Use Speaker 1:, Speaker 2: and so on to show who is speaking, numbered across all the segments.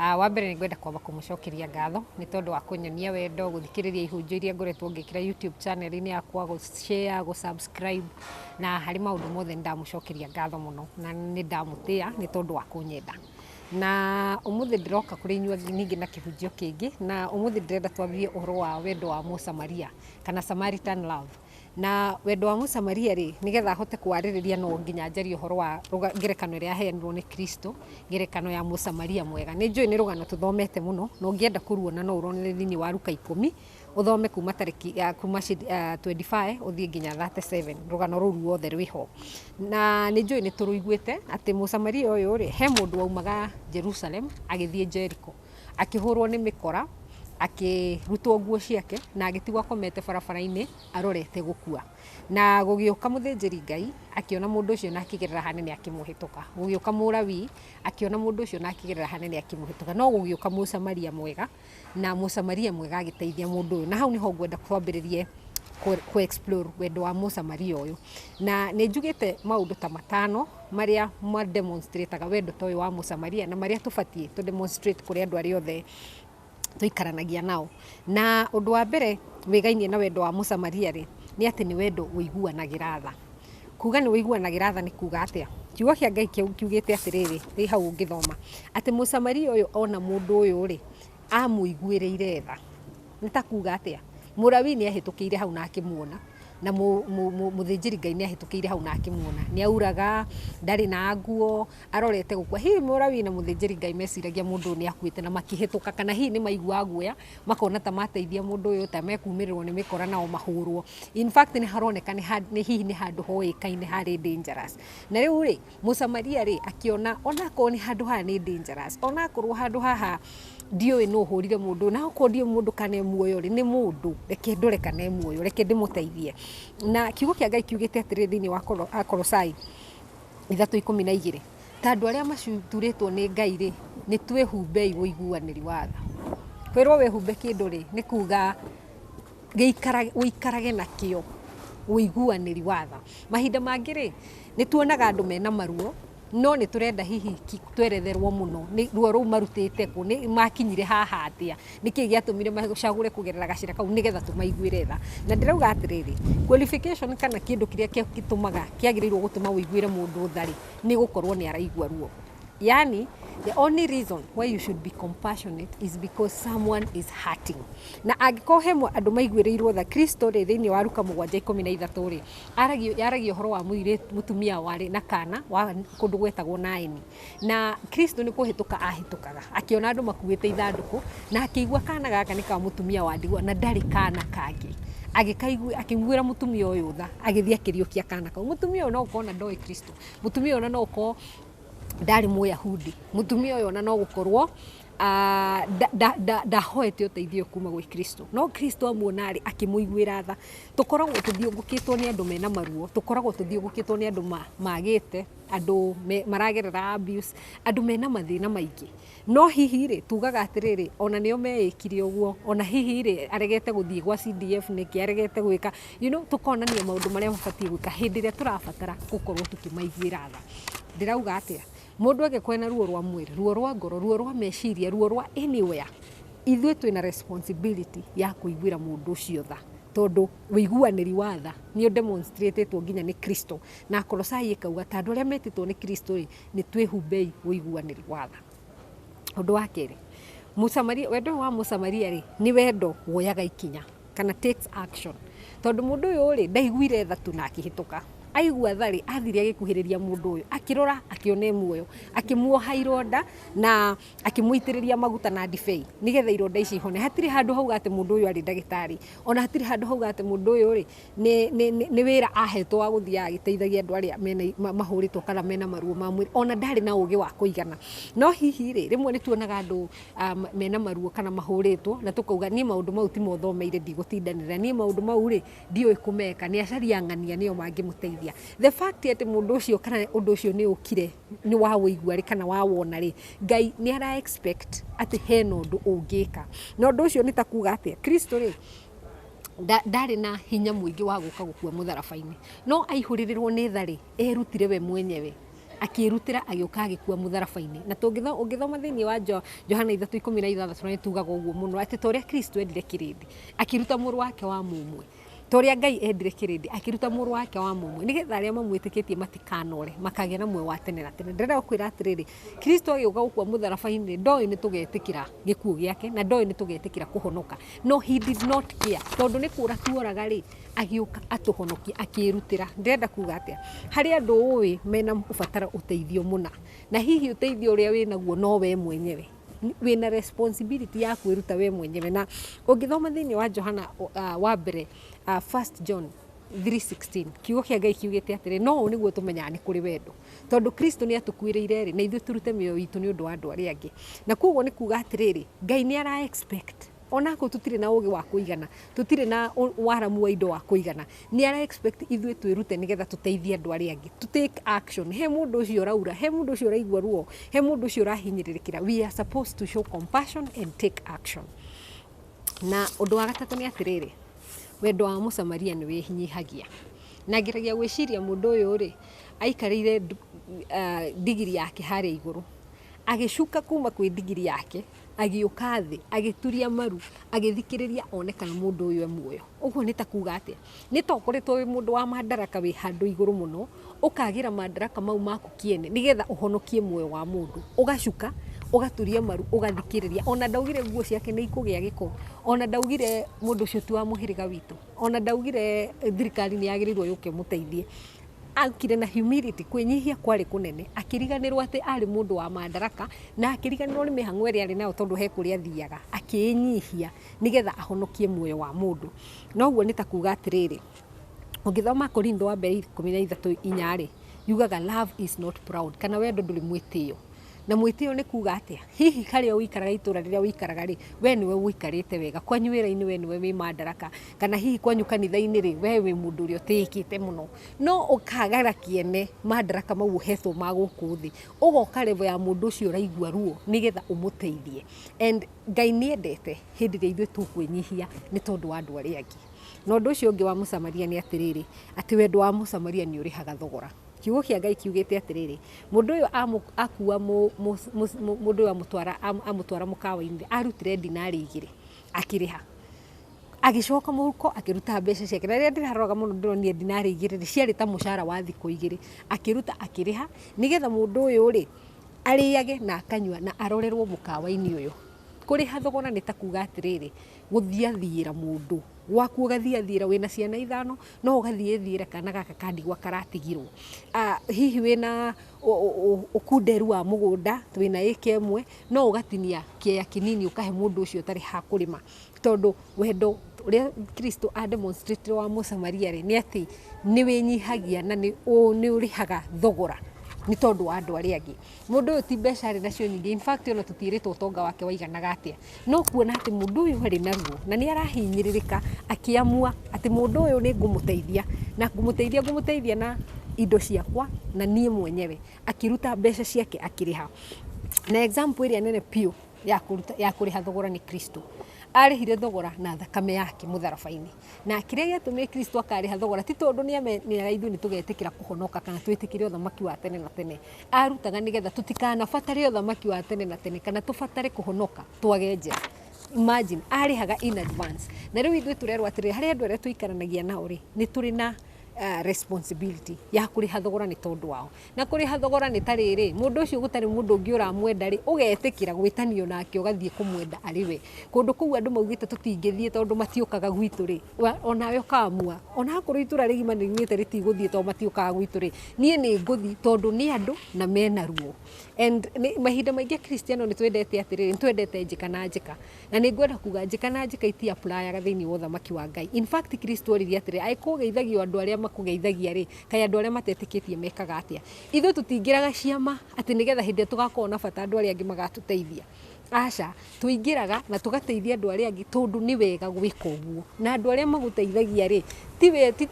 Speaker 1: Ah, wa mbere nĩ ngwenda kwamba kũmũcokeria ngatho nĩ tondũ wa kũnyonia wendo gũthikĩrĩria ihunjio iria ngoretwo ngĩkĩra youtube channel-inĩ yakwa gũshare gũsubscribe na harĩ maũndũ mothe nĩ ndamũcokeria ngatho mũno na nĩ ndamũtĩa nĩ tondũ wa kũnyenda na ũmũthĩ ndĩroka kũrĩ inyuĩ ningĩ na kĩhunjio kĩngĩ na ũmũthĩ ndĩrenda twambie ũhoro wa wendo wa mũsamaria kana samaritan love Na wendo wa Mũsamaria-rĩ, nĩgetha hote kũwarĩrĩria no nginya njarie ũhoro wa ngerekano ĩrĩa yaheanirwo nĩ Kristo, ngerekano ya Mũsamaria mwega. Nĩ njũĩ nĩ rũgano tũthomete mũno, na ũngĩenda kũruona no ũruonere thĩiniĩ wa Luka ikũmi, ũthome kuma tarĩki kuma twenty five ũthiĩ nginya thirty seven, rũgano rũu ruothe rwĩ ho. Na nĩ njũĩ nĩ tũrũiguĩte atĩ Mũsamaria ũyũ-rĩ, he mũndũ waumaga Jerusalem agĩthiĩ Jericho. akĩhũrwo nĩ mĩkora, akĩrutwo nguo ciake na agĩtigwo akomete barabara-inĩ arorete gũkua. Na gũgĩũka mũthĩnjĩri Ngai akĩona mũndũ ũcio na akĩgerera hanene akĩmũhĩtũka. Gũgĩũka Mũlawii akĩona mũndũ ũcio na akĩgerera hanene akĩmũhĩtũka. No gũgĩũka Mũsamaria mwega na Mũsamaria mwega agĩteithia mũndũ ũyũ. Na hau nĩho ngwenda twambĩrĩrie kũ explore wendo wa Mũsamaria ũyũ. Na nĩ njugĩte maũndũ ta matano marĩa ma demonstrate aga wendo ta ũyũ wa Mũsamaria na marĩa tũbatiĩ tũ demonstrate kũrĩ andũ arĩa othe tũikaranagia nao. Na ũndũ wa mbere wĩgainie na wendo wa Mũsamaria rĩ, nĩ atĩ nĩ wendo ũiguanagĩra tha. Kuuga nĩ ũiguanagĩra tha nĩ kuuga atĩa? Kiugo kĩa Ngai kĩu kiugĩte atĩrĩrĩ, wĩ hau ũngĩthoma, atĩ Mũsamaria ũyũ ona mũndũ ũyũ rĩ, Aamũiguĩrĩire tha. Nĩ ta kuuga atĩa? Mũlawii nĩ aahĩtũkĩire hau na akĩmuona, na mũthĩnjĩri-Ngai nĩ aahĩtũkĩire hau na akĩmuona. Nĩ auraga, ndarĩ na nguo, arorete gũkua. Hihi Mũlawii na mũthĩnjĩri-Ngai meciragia mũndũ ũyũ nĩ akuĩte na makĩhĩtũka, kana hihi nĩ maiguaga guoya, makona ta mateithia mũndũ ũyũ, ta mekũũmĩrĩrwo nĩ mĩkora nao mahũũrwo. In fact nĩ haroneka hihi nĩ handũ hoĩkaine harĩ dangerous. Na rĩu rĩ, Mũsamaria rĩ, akĩona onakorwo nĩ handũ haha nĩ dangerous, onakorwo handũ haha ndiũĩ nũ ũhũrire mũndũ ũyũ, na okorwo ndiũĩ mũndũ kana e muoyo rĩ, nĩ mũndũ, reke ndore kana e muoyo, reke ndĩmũteithie. Na kiugo kĩa Ngai kiugĩte atĩrĩrĩ thĩiniĩ wa Akolosai ithatũ ikũmi na igĩrĩ, ta andũ arĩa maturĩtwo nĩ Ngai rĩ, nĩ twĩhumbei ũiguanĩri wa tha. Kwĩrwo wĩhumbe kĩndũ rĩ, nĩ kuga... gũikarage na kĩo ũiguanĩri wa tha. Mahinda mangĩ rĩ, nĩ tuonaga andũ mena maruo, no nĩ tũrenda hihi tweretherwo mũno nĩ ruo rũu marutĩte kũ, makinyire haha atĩa, nĩ kĩĩ gĩatũmire macagũre kũgerera gacĩra kau nĩ getha tũmaiguĩre tha. Na ndĩrauga atĩrĩrĩ, qualification kana kĩndũ kĩrĩa gĩtũmaga, kĩagĩrĩirwo gũtũma ũiguĩre mũndũ tha rĩ, nĩ gũkorwo nĩ araigua ruo. yani the only reason why you should be compassionate is because someone is hurting na angĩkorwo he mwa- andũ maiguĩrĩirwo tha kristo rĩ thĩinĩ wa ruka mũgwanja ikũmi na ithatũ rĩ aragio- yaragia ũhoro wa mũirĩ mũtumia warĩ na kana wa kũndũ gwetagwo naini na kristo nĩ kũhĩtũka ahĩtũkaga akĩona andũ makuĩte ithandũkũ na akĩigua kana gaka nĩ ka mũtumia wa ndigwa na ndarĩ kana kangĩ agĩkaigua akĩiguĩra mũtumia ũyũ tha agĩthiĩ akĩriũkia kana kau mũtumia ũyũ no ũkorwo na ndoĩ kristo mũtumia ũyũ ona no ũkorwo ndarĩ mũyahudi mũtumia ũyũ ona no gũkorwo ah, nda- nda- nda- ndahoete ũteithio kuma gwĩ kristo no kristo amuona rĩ akĩmũiguĩra tha tũkoragwo tũthiũngũkĩtwo nĩ andũ mena maruo tũkoragwo tũthiũngũkĩtwo nĩ andũ ma- magĩte andũ me- maragerera abuse andũ mena mathĩna maingĩ No hihi-rĩ, tugaga atĩrĩrĩ, o na nĩo meĩkire ũguo, o na hihi-rĩ, aregete gũthiĩ gwa CDF nĩkĩ, aregete gwĩka, you know, tũkonania maũndũ marĩa mabatiĩ gwĩka hĩndĩ ĩrĩa tũrabatara gũkorwo tũkĩmaiguĩra tha. Ndĩrauga atĩa? Mũndũ angĩkorwo ena ruo rwa mwĩrĩ, ruo rwa ngoro, ruo rwa meciria, ruo rwa anywhere, ithuĩ twĩna responsibility ya kũiguĩra mũndũ ũcio tha, tondũ ũiguanĩri wa tha nĩ ũ demonstrate two nginya nĩ Kristo. Na Akolosai ĩkauga ta andũ arĩa metĩtwo nĩ Kristo-rĩ, Nĩ twĩhumbei ũiguanĩru wa tha. Ũndũ wa kerĩ, Mũsamaria, wendo ũyũ wa Mũsamaria rĩ, nĩ wendo woyaga ikinya, kana takes action. Tondũ mũndũ ũyũ rĩ, ndaiguire tha tu na akĩhĩtũka. Aigua tha rĩ, athire agĩkuhĩrĩria mũndũ ũyũ, akĩrora akĩona e muoyo, akĩmuoha ironda na akĩmũitĩrĩria maguta na ndibei, nĩgetha ironda icio ihone. Hatirĩ handũ hauga atĩ mũndũ ũyũ arĩ ndagĩtarĩ, ona hatirĩ handũ hauga atĩ mũndũ ũyũ rĩ, Nĩ, nĩ, nĩ, nĩ wĩra ahetwo wa gũthiaga agĩteithagia andũ arĩa mena, ma, mahũrĩtwo kana mena maruo ma mwĩrĩ. Ona ndarĩ na ũgĩ wa kũigana. No hihi rĩ, rĩmwe nĩ tuonaga andũ a, mena maruo kana mahũrĩtwo, na tũkauga niĩ maũndũ mau ti mo thomeire ndigũtindanĩrĩra. Niĩ maũndũ mau rĩ, ndiũĩ kũmeka. Nĩ acarie ang'ania nĩo mangĩmũteithia. The fact atĩ mũndũ ũcio kana ũndũ ũcio nĩ ũkire, nĩ wa ũigua rĩ, kana wa wona rĩ, Ngai nĩ ara expect atĩ hena ũndũ ũngĩka. Na ũndũ ũcio nĩ ta kuuga atĩa? Kristũ rĩ, ndarĩ na hinya mũingĩ wa gũka gũkua mũtharaba-inĩ, no aihũrĩrĩrwo nĩ tha-rĩ, erutire we mwenyewe, akĩĩrutĩra agĩũka agĩkua mũtharaba-inĩ. Na ũngĩthoma thĩiniĩ wa Johana ithatũ ikũmi na ithathatũ nĩ tugaga ũguo mũno atĩ ta ũrĩa Kristũ endire kĩrĩndĩ akĩruta mũrũ wake wa mũmwe, ta ũrĩa Ngai endire kĩrĩndĩ akĩruta mũrũ wake wa mũmwe, nĩgetha arĩa mamwĩtĩkĩtie matikanore, makagĩa na muoyo wa tene na tene. Ndĩrenda gũkwĩra atĩrĩrĩ, Kristo agĩũka gũkua mũtharaba-inĩ, ndoĩ nĩ tũgetĩkĩra gĩkuũ gĩake, na ndoĩ nĩ tũgetĩkĩra kũhonoka. No he did not care. Tondũ nĩ kũũra tuoraga rĩ, agĩũka atũhonokie, akĩĩrutĩra. Ndĩrenda kuuga atĩa? Harĩ andũ ũũĩ mena ũbataro ũteithio mũna. Na hihi ũteithio ũrĩa wĩ naguo no we mwenyewe. Wĩna responsibility ya kwĩruta we mwenyewe. Na ũngĩthoma thĩinĩ wa Johana wa mbere, First John three sixteen, Kiugo kĩa Ngai kiugĩte atĩrĩ, na ũũ nĩguo tũmenyaga nĩ kũrĩ wendo. Tondũ Kristo nĩ atũkuĩrĩire rĩ, na ithuĩ tũrute mĩoyo itũ nĩ ũndũ wa andũ arĩa angĩ. Na kwoguo nĩ kuuga atĩrĩrĩ, Ngai nĩ ara expect, o na akorwo tũtirĩ na ũgĩ wa kũigana, tũtirĩ na waramu wa indo wa kũigana, nĩ ara expect ithuĩ twĩrute nĩgetha tũteithie andũ arĩa angĩ. Tũ take action. He mũndũ ũcio ũraura, he mũndũ ũcio ũraigua ruo, he mũndũ ũcio ũrahinyĩrĩrĩkĩra, we are supposed to show compassion and take action. Na ũndũ wa gatatũ nĩ atĩrĩrĩ, wendo wa Mũsamaria nĩ wĩnyihagia. Na ngeragia gwĩciria mũndũ ũyũ rĩ, Aikarĩire ndigiri yake harĩa igũrũ, agĩcuka kuma kwĩ ndigiri yake, agĩũka thĩ, agĩturia maru, agĩthikĩrĩria one kana mũndũ ũyũ e muoyo. Ũguo nĩ ta kuga atĩa? Nĩ ta ũkoretwo wĩ mũndũ wa mandaraka wĩ handũ igũrũ mũno, ũkagĩra mandaraka mau maku kĩene nĩgetha ũhonokie muoyo wa mũndũ. Ũgacuka, ũgaturia maru, ũgathikĩrĩria. Ona ndaugire nguo ciake nĩ ikũgĩa gĩko, ona ndaugire mũndũ ũcio ti wa mũhĩrĩga witũ. Ona ndaugire thirikari nĩ yagĩrĩirwo yũke ĩmũteithie. Okire na humility, kwĩnyihia kwarĩ kũnene. Akĩriganĩrwo atĩ arĩ mũndũ wa Madaraka, na akĩriganĩrwo nĩ mĩhang'o ĩrĩa arĩ nayo tondũ he kũrĩa athiaga. Akĩĩnyihia nĩgetha ahonokie muoyo wa mũndũ. Na ũguo nĩ ta kuuga atĩrĩrĩ, ũngĩthoma Akorintho wa mbere ikũmi na ithatũ inya rĩ, yugaga love is not proud kana wendo ndũrĩ mwĩtĩo. Na mwĩtĩo nĩ kuuga atĩa? Hihi harĩa ũikaraga itũũra rĩrĩa ũikaraga rĩ, we nĩwe ũikarĩte wega? Kwanyu wĩra-inĩ we nĩwe wĩ mandaraka? Kana hihi kwanyu kanitha-inĩ rĩ, we wĩ mũndũ ũrĩa ũtĩĩkĩte mũno? No ũkaagera kĩene mandaraka mau ũheetwo ma gũkũ thĩ, ũgooka level ya mũndũ ũcio ũraigua ruo nĩgetha ũmũteithie. And Ngai nĩ endete hĩndĩ ĩrĩa ithuĩ tũkwĩnyihia nĩ tondũ wa andũ arĩa angĩ. Na ũndũ ũcio ũngĩ wa Mũsamaria nĩ atĩrĩrĩ, atĩ wendo wa Mũsamaria nĩ ũrĩhaga thogora. Kiugo kĩa Ngai kiugĩte atĩrĩrĩ, mũndũ ũyũ akua mũndũ ũyũ amũtwara mũkawa-inĩ, arutire ndinari igĩrĩ akĩrĩha. Agĩcoka mũhuko akĩruta mbeca ciake. Na rĩrĩa ndĩraroraga mũno ndĩronire ndinari igĩrĩ rĩ, ciarĩ ta mũcara wa thikũ igĩrĩ. Akĩruta akĩrĩha, nĩgetha mũndũ ũyũ rĩ, arĩage na akanyua na arorerwo mũkawa-inĩ ũyũ. Kũrĩha thogora nĩ ta kuuga atĩrĩrĩ, gũthiathiĩra mũndũ. Gwaku ũgathiathiĩra, wĩna ciana ithano, no ũgathiĩ thiĩre kana gaka ka ndigwa karatigirwo. Hihi wĩna ũkunderu wa mũgũnda, wĩna ĩka ĩmwe, no ũgatinia kĩea kĩnini ũkahe mũndũ ũcio ũtarĩ ha kũrĩma. Tondũ wendo ũrĩa Kristũ a demonstrate ĩre wa Mũsamaria rĩ, nĩ atĩ nĩ wĩnyihagia na nĩ ũrĩhaga thogora nĩ tondũ wa andũ arĩa angĩ. Mũndũ ũyũ ti mbeca arĩ nacio nyingĩ, in fact ona tũtiĩrĩtwo ũtonga wake waiganaga atĩa. No kuona atĩ mũndũ ũyũ arĩ naguo, na nĩ arahinyĩrĩrĩka, akĩamua atĩ mũndũ ũyũ nĩ ngũmũteithia, na ngũmũteithia ngũmũteithia na indo ciakwa na niĩ mwenyewe, akĩruta mbeca ciake akĩrĩha. Na example ĩrĩa nene biũ ya kũruta ya kũrĩha thogora nĩ Kristũ. Arĩhire thogora na thakame yake mũtharaba-inĩ. Na kĩrĩa gĩatũmire Kristũ akarĩha thogora ti tondũ nĩ nĩ ithuĩ nĩ tũgetĩkĩra kũhonoka kana twĩtĩkĩre ũthamaki wa tene na tene, Aarutaga nĩ getha tũtikanabatare ũthamaki wa tene na tene kana tũbatare kũhonoka twage njĩra. Imagine, arĩhaga in advance. Na rĩu ithuĩ tũrerwo atĩrĩrĩ, harĩ andũ arĩa tũikaranagia nao rĩ, nĩ tũrĩ na ah, responsibility ya kũrĩha thogora nĩ tondũ wao. Na kũrĩha thogora nĩ ta rĩrĩ, mũndũ ũcio gũtarĩ mũndũ ũngĩ ũramwenda rĩ, ũgetĩkĩra gwĩtanio nake ũgathiĩ kũmwenda arĩ we. Kũndũ kũu andũ maugĩte tũtingĩthiĩ tondũ matiũkaga gwitũ rĩ, wa- onawe ũkamua. Onakorwo itũũra rĩgima nĩ riugĩte rĩtigũthiĩ tondũ matiũkaga gwitũ rĩ, Niĩ nĩ ngũthiĩ tondũ nĩ andũ na mena ruo. And mahinda maingĩ Akristiano nĩ twendete atĩrĩrĩ, nĩ twendete njĩka na njĩka. Na nĩ ngwenda kuuga njĩka na njĩka iti apulayaga thĩinĩ wa ũthamaki wa Ngai. In fact Kristo oririe atĩrĩ, angĩkorwo ũgeithagio andũ arĩa makũgeithagia rĩ, kaĩ andũ arĩa matetĩkĩtie mekaga atĩa? Ithuĩ tũtiingĩraga ciama atĩ nĩgetha hĩndĩ ĩrĩa tũgakorwo na bata andũ arĩa angĩ magatũteithia. Aca, tũingĩraga na tũgateithia andũ arĩa angĩ tondũ nĩ wega gwĩka ũguo. Na andũ arĩa magũteithagia rĩ,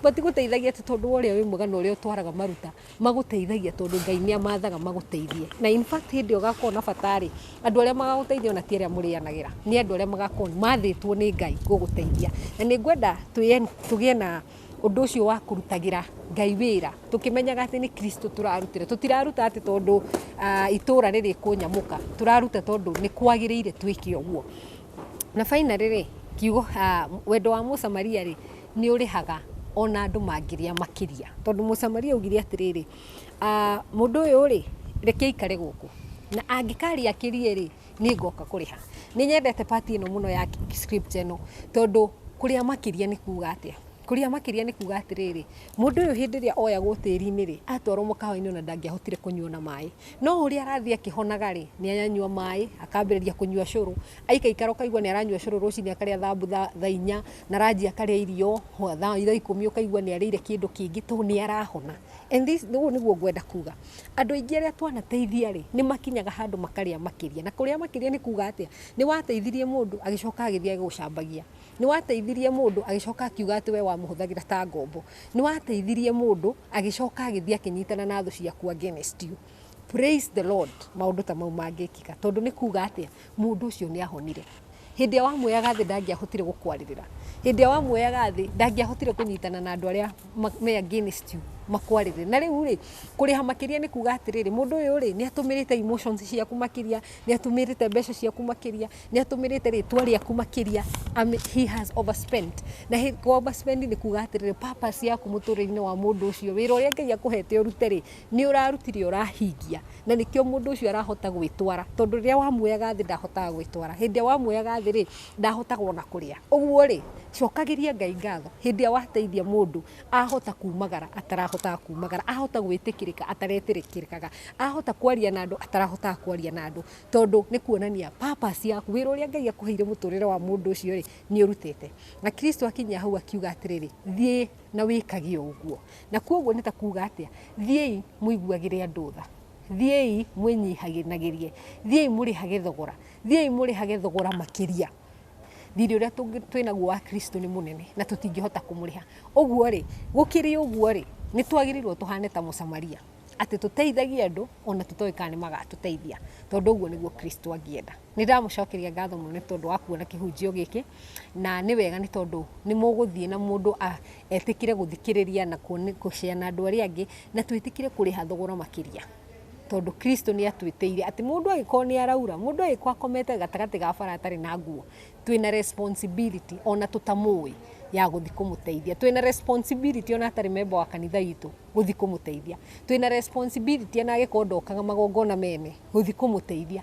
Speaker 1: matigũteithagia atĩ tondũ wa ũrĩa wĩ mwega na ũrĩa ũtwaraga maruta, magũteithagia tondũ Ngai nĩ amathaga magũteithie. Na in fact hĩndĩ ĩrĩa ũgakorwo na bata rĩ, andũ arĩa magagũteithia ona ti arĩa mũrĩanagĩra, nĩ andũ arĩa magakorwo mathĩtwo nĩ Ngai gũgũteithia. Na nĩ ngwenda tũgĩe na... ũndũ ũcio wa kũrutagĩra Ngai wĩra tũkĩmenyaga atĩ nĩ Kristo tũrarutĩra. Tũtiraruta atĩ tondũ itũũra nĩ rĩkũnyamũka, tũraruta tondũ nĩ kwagĩrĩire twĩke ũguo. Na finally rĩ, kiugo wendo wa Mũsamaria rĩ, nĩ ũrĩhaga ona andũ mangĩrĩa makĩria. Tondũ Mũsamaria augire atĩrĩrĩ, mũndũ ũyũ rĩ, reke aikare gũkũ na angĩkarĩa akĩrie rĩ... Nĩ ngoka kũrĩha. Nĩ nyendete part ĩno mũno ya script ĩno tondũ kũrĩa makĩria nĩ kuuga atĩa? Kũrĩa makĩria nĩ kuuga atĩrĩrĩ, mũndũ ũyũ hĩndĩ ĩrĩa oyagwo tĩri-inĩ rĩ, atwarwo mũkawa-inĩ ona ndangĩahotire kũnyua ona maĩ. No ũrĩa arathiĩ akĩhonaga rĩ, nĩ aranyua maĩ, akambĩrĩria kũnyua cũrũ, aikaikara ũkaigua nĩ aranyua cũrũ rũcinĩ akarĩa thambutha thaa inya, na ranji akarĩa irio thaa ikũmi ũkaigua nĩ arĩire kĩndũ kĩngĩ tondũ nĩ arahona. And this ũguo nĩguo ngwenda kuuga. Andũ aingĩ arĩa twanateithia rĩ, nĩ makinyaga handũ makarĩa makĩria. Na kũrĩa makĩria nĩ kuuga atĩa? Nĩ wateithirie mũndũ agĩcoka agĩthiĩ agĩgũcambagia. Nĩ wateithirie mũndũ agĩcoka akiuga atĩ we wamũhũthagĩra ta ngombo. Nĩ wateithirie mũndũ agĩcoka agĩthiĩ akĩnyitana na thũ ciaku against you. Praise the Lord maũndũ ta mau mangĩkĩka. Tondũ nĩ kuuga atĩa? Mũndũ ũcio nĩ ahonire. Hĩndĩ ĩrĩa wamuoyaga thĩ ndangĩahotire gũkwarĩrĩra. Hĩndĩ ĩrĩa wamuoyaga thĩ ndangĩahotire kũnyitana na andũ arĩa me against you makwarĩrĩre. Na rĩu rĩ, kũrĩha makĩria nĩ kuuga atĩrĩrĩ, mũndũ ũyũ rĩ, nĩ atũmĩrĩte emotions ciaku makĩria, nĩ atũmĩrĩte mbeca ciaku makĩria, nĩ atũmĩrĩte rĩtwa rĩaku makĩria, he has overspent. Na kũ overspend nĩ kuuga atĩrĩrĩ, purpose yaku mũtũrĩre-inĩ wa mũndũ ũcio, wĩra ũrĩa Ngai akũhete ũrute rĩ, Nĩ ũrarutire ũrahingia na nĩkĩo mũndũ ũcio arahota gwĩtwara tondũ rĩrĩa wamuoyaga thĩ ndahotaga gwĩtwara. Hĩndĩ ĩrĩa wamuoyaga thĩ rĩ, ndahotaga ona kũrĩa. Ũguo rĩ, cokagĩria Ngai ngatho hĩndĩ ĩrĩa wateithia mũndũ ahota kumagara atarahotaga kumagara, ahota gwĩtĩkĩrĩka ataretĩkĩrĩkaga, ahota kwaria na andũ atarahotaga kwaria na andũ tondũ nĩ kuonania purpose yaku, wĩra ũrĩa Ngai akũheire mũtũrĩre wa mũndũ ũcio rĩ, nĩ ũrutĩte. Na Kristo akinyia hau akiuga atĩrĩrĩ, thiĩ na wĩkage o ũguo. Na kwoguo nĩ ta kuuga atĩa? Thiĩi mũiguagĩre andũ tha, thiĩi mwĩnyihanagĩrie, thiĩi mũrĩhage thogora, thiĩi mũrĩhage thogora makĩria. Thirĩ ũrĩa twĩ naguo wa Kristo nĩ mũnene na tũtingĩhota kũmũrĩha. Ũguo rĩ, gũkĩrĩ ũguo rĩ, nĩ twagĩrĩirũo tũhane ta Mũsamaria, atĩ tũteithagie andũ o na tũtoĩ kana nĩ magatũteithia, tondũ ũguo nĩguo Kristo angĩenda. Nĩ ndamũcokeria ngatho mũno nĩ tondũ wa kuona kĩhunjio gĩkĩ, na nĩ wega nĩ tondũ nĩ mũgũthiĩ na mũndũ etĩkĩre gũthikĩrĩria na kũ share na andũ arĩa angĩ, na twĩtĩkĩre kũrĩha thogora makĩria, tondũ Kristo nĩ atwĩtĩire atĩ mũndũ angĩkorwo nĩ araura, mũndũ angĩkorwo akomete gatagatĩ ga bara atarĩ na nguo, twĩna responsibility ona tũtamũĩ ya gũthiĩ kũmũteithia. Twĩna responsibility ona atarĩ memba wa kanitha witũ gũthiĩ kũmũteithia. Twĩna responsibility ona angĩkorwo ndokaga magongona mene gũthiĩ kũmũteithia.